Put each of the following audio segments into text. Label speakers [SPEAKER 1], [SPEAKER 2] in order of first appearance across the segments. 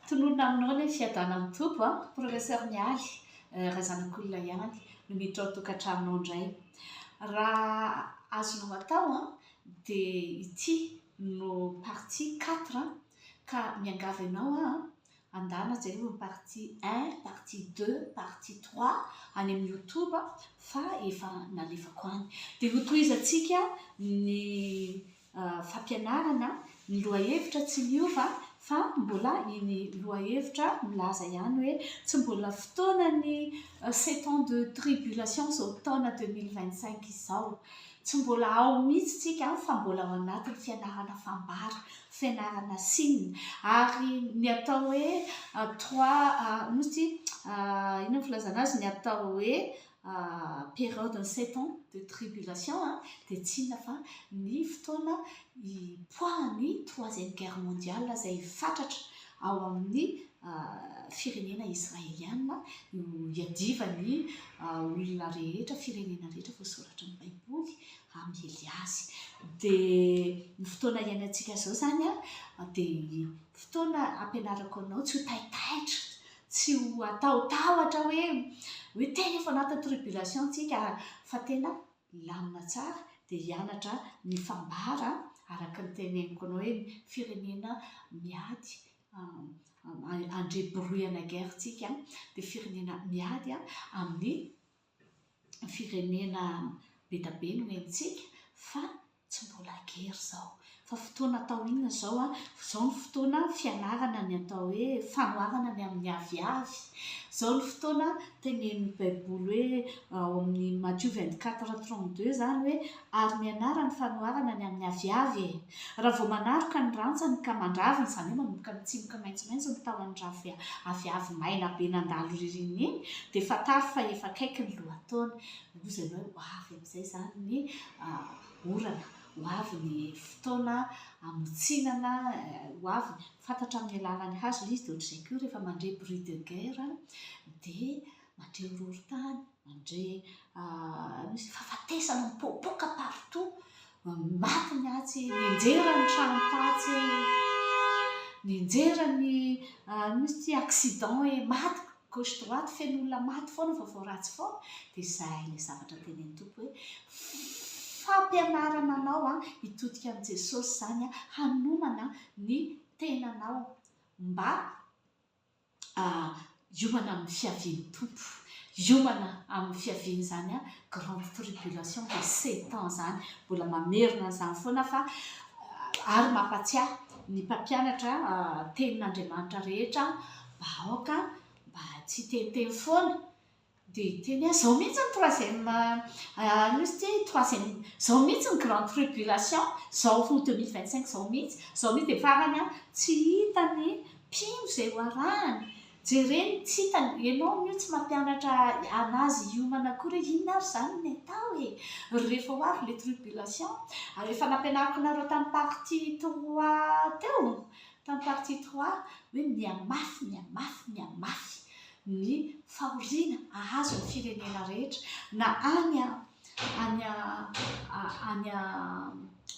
[SPEAKER 1] Tononina aminao ilay fiadanan'ny Tompo an! Professeur Mialy, raha zanak'olona ihany no miditra ao an-tokantranonao indray. Raha azonao atao an, dia ity no partie quatre an, ka miangavy anao aho an, andana jereo ny partie un, partie deux, partie trois any amin'ny youtube fa efa nalefako any. Dia hotohizantsika ny fampianarana ny lohahevitra tsy miova fa mbola iny lohahevitra milaza ihany hoe tsy mbola fotoanan'ny sept ans de tribulation izao taona deux mille vingt cinq izao. Tsy mbola ao mihitsy tsika fa mbola ao anatin'ny fianarana fambara, fianarana sina ary ny atao hoe trois inona moa ity inona ny filazana azy ny atao hoe période ny sept ans de tribulation dia tsy inona fa ny fotoana hipoahan'ny troisième guerre mondiale izay fatratra ao amin'ny firenena israeliana no hiadivan'ny olona rehetra, firenena rehetra voasoratry ny baiboly hamely azy. Dia ny fotoana iainantsika izao izany dia fotoana ampianarako anao tsy ho taitaitra Tsy ho atao tahotra hoe hoe tena efa anaty tribulation tsika fa tena hilamina tsara dia hianatra ny fambara araka ny teneniko anao hoe ny firenena miady handre brouille na guerre tsika dia firenena miady amin'ny firenena be dia be no henontsika fa tsy mbola gery izao. Fa fotoana atao inona izao an? Izao ny fotoana fianarana ny atao hoe fanoharana ny amin'ny aviavy. Izao ny fotoana tenenin'ny baiboly hoe ao amin'ny Matio vingt quatre trente deux izany hoe. Ary mianara ny fanoharana ny amin'ny aviavy e! Raha vao manaroka ny rantsany ka mandravina, izany hoe manomboka mitsimoka maitsomaitso ny tahon'ny ravin aviavy maina be nandalo ririnina iny, dia fantaro fa efa akaiky ny lohataona. Hoy zay hoe ho avy amin'izay izany ny orana, ho avy ny fotoana hamotsinana, ho avy ny. Fantatra amin'ny alalan'ny hazo ilay izy, dia ohatr'izay koa rehefa mandre bruit de guerre dia mandre horohorontany. Andre ah misy fahafatesana mipoapoaka partout maty ny atsy nianjera ny trano tatsy nianjera ny ah misy ty accident e maty gauche droite feno olona maty foana vaovao ratsy foana dia izay ilay zavatra tenenin'ny Tompo hoe fampianarana anao an hitodika amin'i Jesosy izany an hanomana ny tenanao mba ah, hiomana amin'ny fiavian'ny Tompo, hiomana amin'ny fiavian'izany ah grande tribulation de sept ans izany, mbola mamerina an'izany foana fa ah, ary mampatsiahy ny mpampianatra ah, tenin'Andriamanitra rehetra, mba aoka mba tsy hiteniteny foana, Dia hiteny aho, izao mihitsy ny troisième, inona izy ity, troisième, izao mihitsy ny grande tribulation, izao ho deux mille vingt cinq izao mihitsy, izao mihitsy dia farany an, tsy hita ny mpino izay ho arahany, jereny tsy hita, ianao ange tsy mampianatra an'azy hiomana akory hoe inona ary izany ny atao e! rehefa ho avy ilay tribulation, ary efa nampianariko anareo tamin'ny partie trois teo, Tamin'ny partie trois, hoe mihamafy, mihamafy, mihamafy ny fahoriana hahazo ny firenena rehetra, na any any any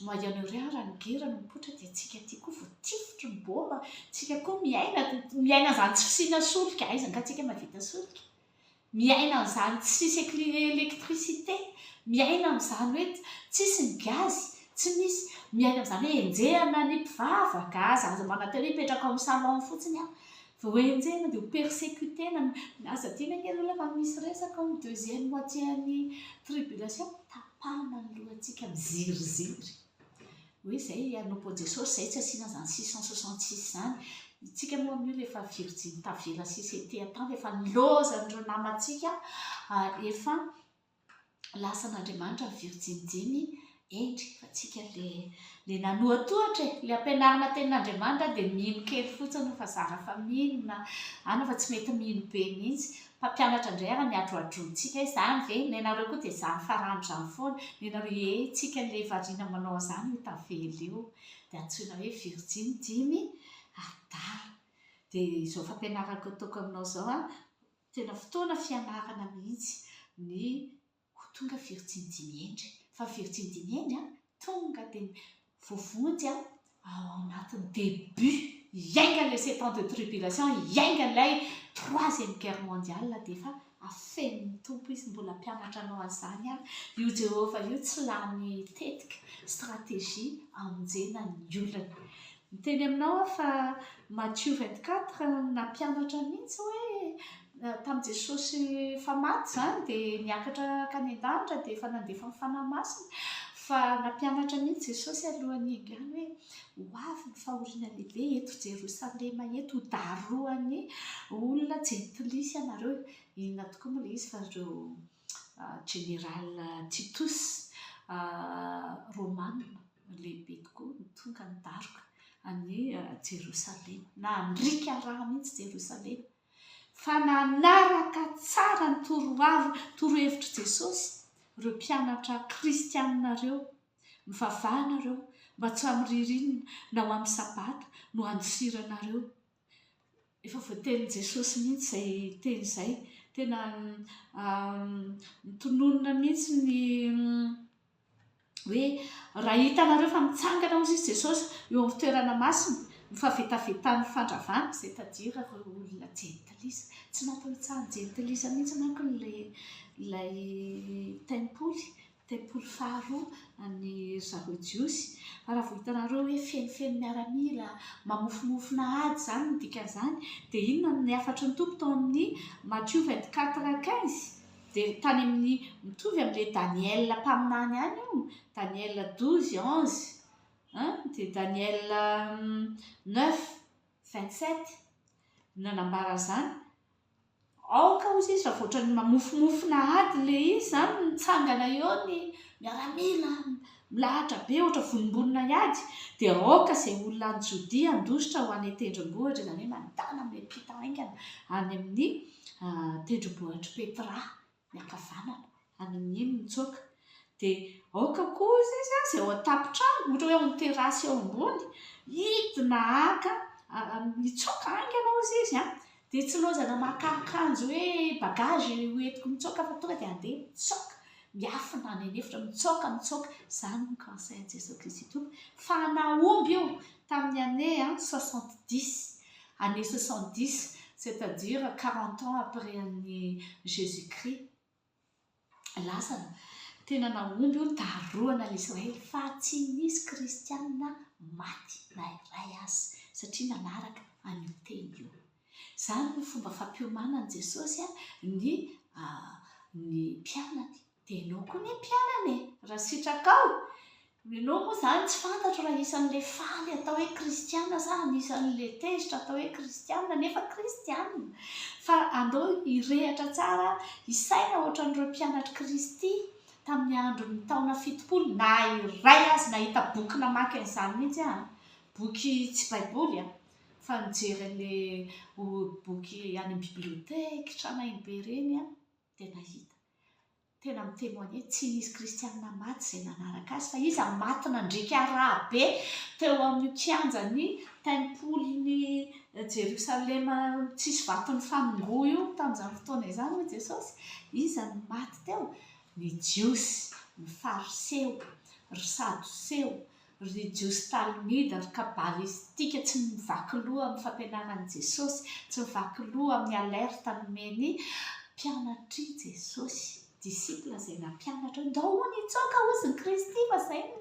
[SPEAKER 1] Moyen Orient raha ny guerre no mipoitra dia tsika aty koa voatifitry ny bomba, tsika koa miaina miaina an'izany tsy fisiana solika, aiza angaha tsika mahavita solika? Miaina an'izany tsisy électricité, miaina amin'izany hoe tsisy ny gazy, tsy misy, miaina amin'izany hoe enjehina ny mpivavaka aza, aza manantena hoe hipetraka ao amin'ny salon fotsiny aho, vao enjehina dia ho persécuter-na, milaza teny anie ny olona fa misy resaka ao amin'ny deuxième moitié an'ny tribulation, tapahana ny lohantsika miziriziry. Hoe izay hanompo an'i Jesosy izay tsy asiana izany six cent soixante six izany. Isika moa amin'io rehefa virjiny tavela sisa ety an-tany efa nilaozan'ireo namantsika efa lasan'Andriamanitra ny virjiny dimy hendry fa tsika le nanoatohatra e le ampianarina tenin'andriamanitra dia mino kely fotsiny fa zara fa mino na ana fa tsy mety mino be mihitsy Mpampianatra indray ary miadroadrontsika izany ve? Nenareo koa dia izany farany izany foana. Nenareo hihehintsika an'ilay variana manao an'izany io tavela io. Dia antsoina hoe virjiny dimy adala. Dia izao fampianarako ataoko aminao izao an, tena fotoana fianarana mihitsy ny. Ho tonga firy tsy midiny hendry fa firy tsy midiny hendry an! Tonga dia voavonjy an! Ao anatin'ny début hiainga ilay sept ans de tribulation, hiainga ilay troisième guerre mondiale dia efa afenin'ny Tompo izy mbola hampianatra anao an'izany an! Io Jehovah io tsy lany tetika, stratégie hamonjena ny olony. Miteny aminao aho fa Matthieu vingt quatre nampianatra mihitsy hoe tamin'i Jesosy efa maty izany dia niakatra hankany an-danitra dia efa nandefa ny Fanahy Masina fa nampianatra mihitsy Jesosy alohan'ny hiainga any hoe ho avy ny fahoriana lehibe eto Jerosalema eto ho darohan'ny olona jentilisa ianareo, inona tokoa moa ilay izy fa ireo General Titus, Romana lehibe tokoa, no tonga nidaroka an'i Jerosalema. Nandriaka rà mihitsy Jerosalema, fa nanaraka tsara ny torohevin, torohevitr'i Jesosy ireo mpianatra kristianina ireo, Mivavaha ianareo, mba tsy amin'ny ririnina na ho amin'ny Sabata no handosiranareo Efa voatenin'i Jesosy mihitsy izay teny izay. Tena notononina mihitsy ny hoe raha hitanareo fa mitsangana hozy izy Jesosy eo amin'ny toerana masina ny fahavetavetan'ny fandravana, izay tadira ireo olona jentilisa. Tsy natao hitsaha ny jentilisa mihitsy manko ilay ilay tempoly. tempoly faharoa an'ny zareo jiosy fa raha vao hitanareo hoe fenofeno miaramila mamofonofona ady izany ny dikan'izany dia inona ny hafatry ny tompo tao amin'ny Matthieu 24 15 dia tany amin'ny mitovy amin'ilay Daniela mpaminany ihany io Daniela 12 11 hein dia Daniela 9 27 no nanambara an'izany Aoka ozy izy raha otrany mamofomofona ady le izy zany mitsangana eo ny miaramila milahatra be ohatra vonombonona hiady dia aoka izay olona any Jodia handositra ho any an-tendrombohitra izany hoe mandana miampita haingana any amin'ny tendrombohitr'i Petra. ny ankavanana, anon'ino mitsoaka, dia aoka koa hozy izy an, izay ao an-tampon-trano, ohatra hoe ao amin'ny terasy ao ambony, hidina haka, hitsoaka haingana hozy izy an, dia tsy ilaozana maka akanjo hoe bagage hoentiko mitsoaka fa tonga dia handeha mitsoaka, miafina any an'efitra, mitsoaka, mitsoaka, izany no conseil an'i Jesoa Kristy Tompo, fa an'aomby io tamin'ny année soixante dix, Année soixante dix, c'est à dire quarante ans après an'i Jésus Christ. Lasana. Tena nahomby io tarohana an'i Israely fa tsy nisy kristianina maty na iray aza satria nanaraka an'io teny io. Izany no fomba fampiomanan'i Jesosy ny ny mpianany. Dia enao koa ny mpianany e! Raha sitrakao! Enao moa izany tsy fantatro raha isan'ilay faly atao hoe kristiana sa anisan'ilay tezitra atao hoe kristiana nefa kristiana. Fa andao hirehatra tsara, hisaina ohatran'ireo mpianatr'i Kristy tamin'ny andron'ny taona fitopolo. Na iray aza nahita boky namaky an'izany mihitsy aho. Boky tsy Baiboly an! Fa nijery an'ilay boky any amin'ny biblioteke tranainy be ireny aho. dia nahita. Tena mi-temoigner, tsy nisy kristianina maty izay nanaraka azy, fa iza no maty nandriaka rà be teo amin'io kianjan'ny tempolin'i Jerosalema tsisy vato nifanongoa io tamin'izany fotoana izany hoy Jesosy? Iza no maty teo? Ny Jiosy, ny Fariseo, ry Sadoseo, ry Jiosy Talmida, ry Kabalistika tsy mivaky loha amin'ny fampianaran'i Jesosy, tsy mivaky loha amin'ny alerte nomen'ny mpianatr'i Jesosy, disciple izay nampianatra hoe ndao hono hitsoaka hozy ny Kristy fa izay no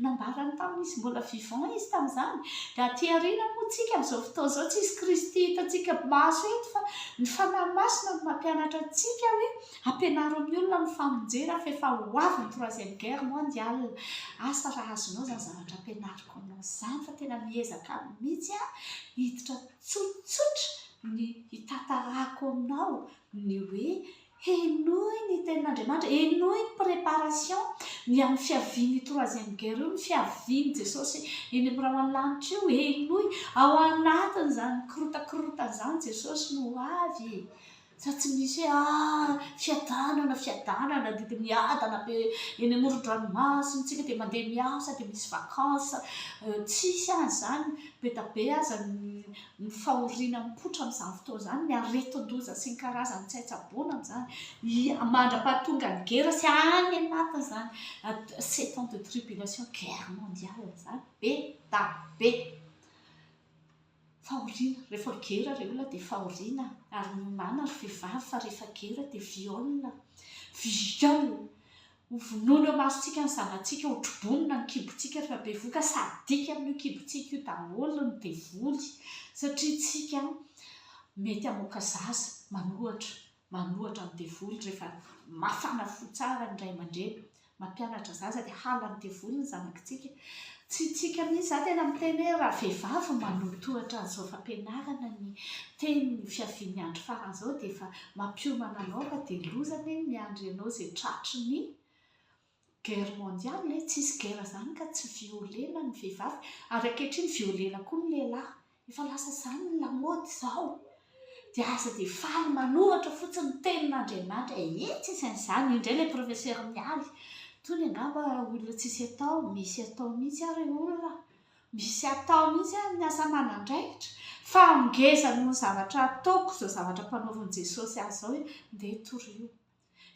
[SPEAKER 1] nambarany tamin'izy mbola vivant izy tamin'izany, dia aty aoriana moa tsika amin'izao fotoana izao tsisy Kristy hitantsika maso eto fa ny Fanahy Masina no mampianatra antsika hoe Ampianaro ny olona ny famonjena fa efa ho avy ny troisième guerre mondiale. Asa raha azonao izany zavatra ampianariko anao izany fa tena miezaka mihitsy aho hiditra tsotsotra ny hitantarako anao ny hoe henoy ny tenin'Andriamanitra, henoy ny préparation ny amin'ny fiavian'io troisième guerre io, ny fiavian'i Jesosy eny amin'ny rahona lanitra io, henoy ao anatin'izany kirotakirotana izany Jesosy no ho avy e! Fa tsy misy hoe ah fiadanana fiadanana dia miadana be eny amoron-dranomasina isika dia mandeha miasa dia misy vacances tsisy aza izany be dia be aza ny fahoriana mipoitra amin'izany fotoana izany ny aretin-doza sy ny karazany tsy hay tsaboina amin'izany mandra-pahatonga ny gera sy any anatiny izany sept ans de tribulation guerre mondiale izany be dia be Fahoriana, rehefa gera rey olona dia fahoriana ary minana ry vehivavy fa rehefa gera dia viole, viole, hovonoina eo masontsika ny zanatsika, hotrobonina ny kibontsika rehefa bevoka, sadique amin'io kibontsika io daholo ny devoly satria tsika mety hamoaka zaza manohatra Manohatra ny devoly rehefa mafana fo tsara ny ray aman-dreny. Mampianatra zaza dia halan'ny devoly ny zanakitsika. Tsy tsika mihitsy, za tena miteny hoe raha vehivavy manotohatra an'izao fampianarana ny teny ny fiavian'ny andro farany izao dia efa mampiomana anao fa dia loza anie ny miandry anao izay tratry ny guerre mondiale e, tsisy guerre zany ka tsy violena ny vehivavy ary ankehitriny violena koa ny lehilahy, efa lasa zany ny lamaody zao dia aza dia faly manoratra fotsiny ny tenin'Andriamanitra e, iiii tsy misy an'izany, io indray ilay professeur Mialy, tony angamba olona tsisy atao, misy atao mihitsy ary olona, misy atao mihitsy ary ny asa aman'andraikitra fa ngeza noho ny zavatra ataoko izao zavatra ampanaovin'i Jesosy ahy izao e, ndeha torio.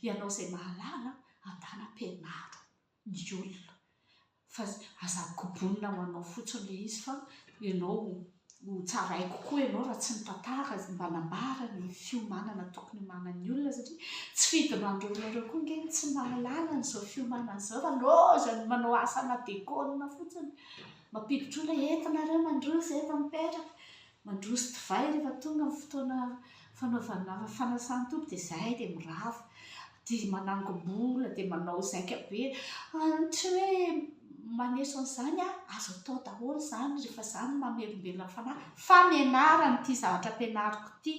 [SPEAKER 1] Ianao izay mahalala andana ampianaro ny olona fa aza kobonina ho anao fotsiny ilay izy fa ianao ho tsaraiko koa ianao raha tsy mitantara sy mba nambara ny fiomanana tokony homanan'ny olona satria tsy fidiny an'ireo olona ireo koa ange ny tsy mahalala an'izao fiomanana izao fa lozany manao asa ana-dekona fotsiny. Mampiditra olona entina ireo mandroso efa mipetraka. Mandroso divay rehefa tonga ny fotoana fanaovana fanasan-tompo dia izay dia mirava dia manangom-bola dia manao zaika be ary tsy hoe maneso an'izany a azo atao daholo izany rehefa za no mamelombelona ny fanahy fa mianara an'ity zavatra ampianariko ity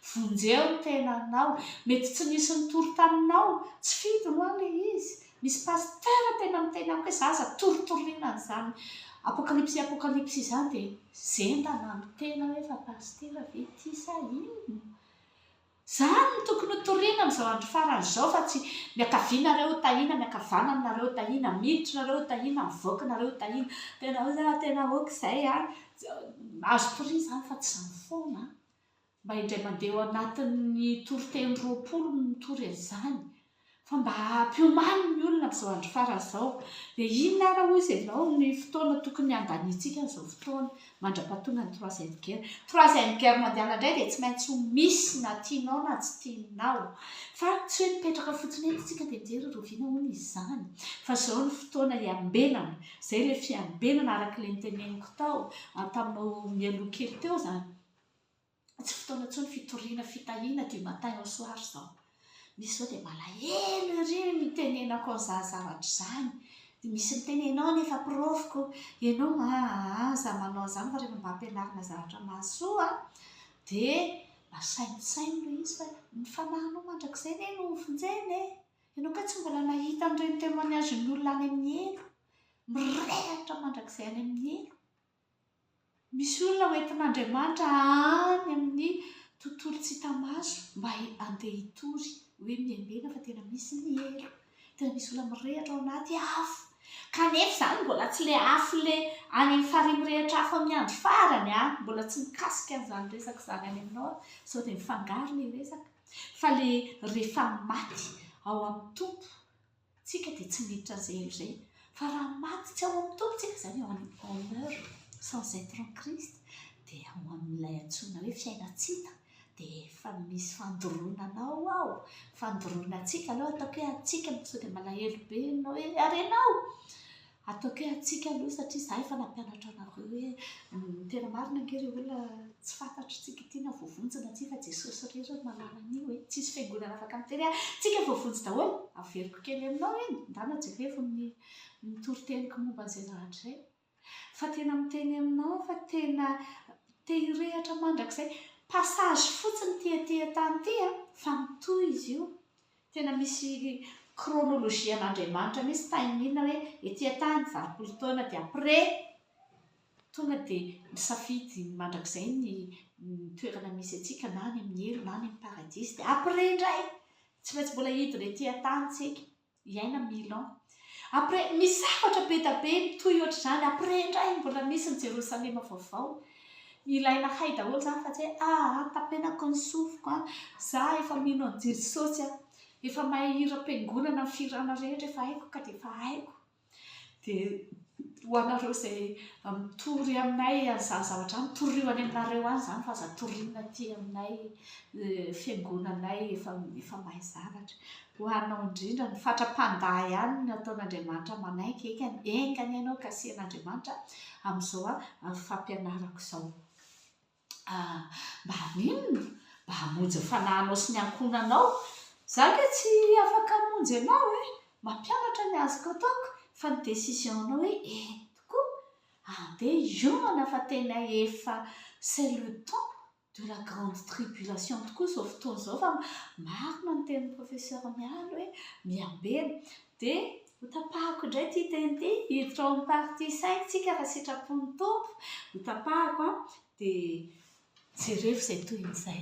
[SPEAKER 1] vonjeo ny tenanao mety tsy nisy nitory taminao tsy fidiny ho'a le izy Misy pasteur tena miteny amiko hoe za aza torotoroina an'izany apokalipsy apokalipsy izany dia zendana ny tena hoe fa pasitera ve ity sa inona? Izany no tokony ho toriana amin'izao andro farany izao fa tsy miakavina re ho tahiana, miakavana nareo ho tahiana, miditra nareo ho tahiana, mivoaka nareo ho tahiana. Tena hoe za tena ok izay an! Azo toriana izany fa tsy izany foana an! mba indray mandeha ao anatin'ny toriteny roapolo mitory an'izany, fa mba hampiomany ny olona amin'izao andro farany izao, dia inona ary hoy izy ianao ny fotoana tokony handaniantsika an'izao fotoana mandra-pahatongan'ny troisième guerre? Troisième guerre mondiale indray dia tsy maintsy ho misy na tianao na tsy tianao, fa tsy hoe mipetraka fotsiny eto isika dia mijery rahoviana hono izy izany, fa izao no fotoana hiambenana, izay ilay fiambenana araka ilay noteneniko tao taminao mialoha kely teo izany. Tsy fotoana intsony fitoriana fitahiana du matin au soir izao. Misy izao dia malahelo ery mitenenako an'izany zavatra izany, dia misy miteny ianao anie efa porofoko, ianao aa izaho manao an'izany fa rehefa mba ampianarina zavatra mahasoa dia masainosaino ilay izy fa ny fanahinao mandrakizay anie no vonjena e! Ianao kay tsy mbola nahita an'ireny témoignage-n'olona any amin'ny helo, mirehatra mandrakizay any amin'ny helo. Misy olona ho entin'Andriamanitra any amin'ny tontolo tsy hita maso mba handeha hitory hoe miambena fa tena misy ny helo, tena misy olona mirehitra ao anaty afo kanefa izany mbola tsy ilay afo ilay any amin'ny farihy mirehitra afo amin'ny andro farany an! Mbola tsy mikasika an'izany resaka izany any aminao aho sao dia mifangaro ilay resaka fa ilay rehefa maty ao amin'ny Tompo. Tsika dia tsy miditra an'izay helo izay, fa raha maty tsy ao amin'ny Tompo tsika, izany hoe en honneur sans etre en Christ, dia ao amin'ilay antsoina hoe fiainantsita, dia efa misy fandoronana ao ao, fandoroana antsika, aloha ataoko hoe antsika sao dia malahelo be ianao hoe ary ianao? Ataoko hoe antsika aloha satria za efa nampianatra anareo hoe tena marina ange ry olona tsy fantatry tsika ity na voavonjy na tsia fa Jesosy irery no mahalala an'io e, tsisy fiangonana afaka miteny hoe tsika voavonjy daholo, averiko kely aminao iny, ndana jerevo ny ny toriteniko momba an'izay naratra izay fa tena miteny aminao fa tena te hirehatra mandrakizay, passage fotsiny ity aty an-tany ity an, fa mitohy izy io, Tena misy chronologie an'Andriamanitra mihintsy taimina hoe ety an-tany valopolo taona dia après tonga dia misafidy mandrakizay ny toerana misy antsika na any amin'ny helo na any amin'ny paradisa dia après indray tsy maintsy mbola hidina ety an-tany isika hiaina mille ans Après misy zavatra be da be mitohy ohatr'izany après indray mbola misy ny Jerosalema vaovao. Ilaina hay daholo zany fa tsy hoe aa tapenako ny sofiko an, za efa mino an'i Jesosy an, efa mahay hiram-piangonana ny fihirana rehetra efa haiko ka dia efa haiko dia. Ho anareo izay mitory aminay an'izany zavatra izany, torio any aminareo any izany fa aza toriana aty aminay fiangonanay efa efa mahay zavatra. Ho anao indrindra, ny fatra-pandà ihany no ataon'Andriamanitra manaiky ekany, enga anie ianao kasihan'Andriamanitra amin'izao fampianarako izao. Ah, mba haninona? Mba hamonjy ny fanahinao sy ny ankohonanao. Izaho ange tsy afaka hamonjy anao e! Mampianatra ny azoko ataoko, fa ny décision-nao hoe eny tokoa, andeha hiomana fa tena efa c'est le temps de la grande tribulation tokoa izao fotoana izao fa marina ny tenin'i Professeur Mialy hoe miambena. Dia Ho tapahako indray ity teny ity, hiditra ao amin'ny partie cinq tsika raha sitrapon'ny Tompo, ho tapahako an, dia jereo izay tohin'izay.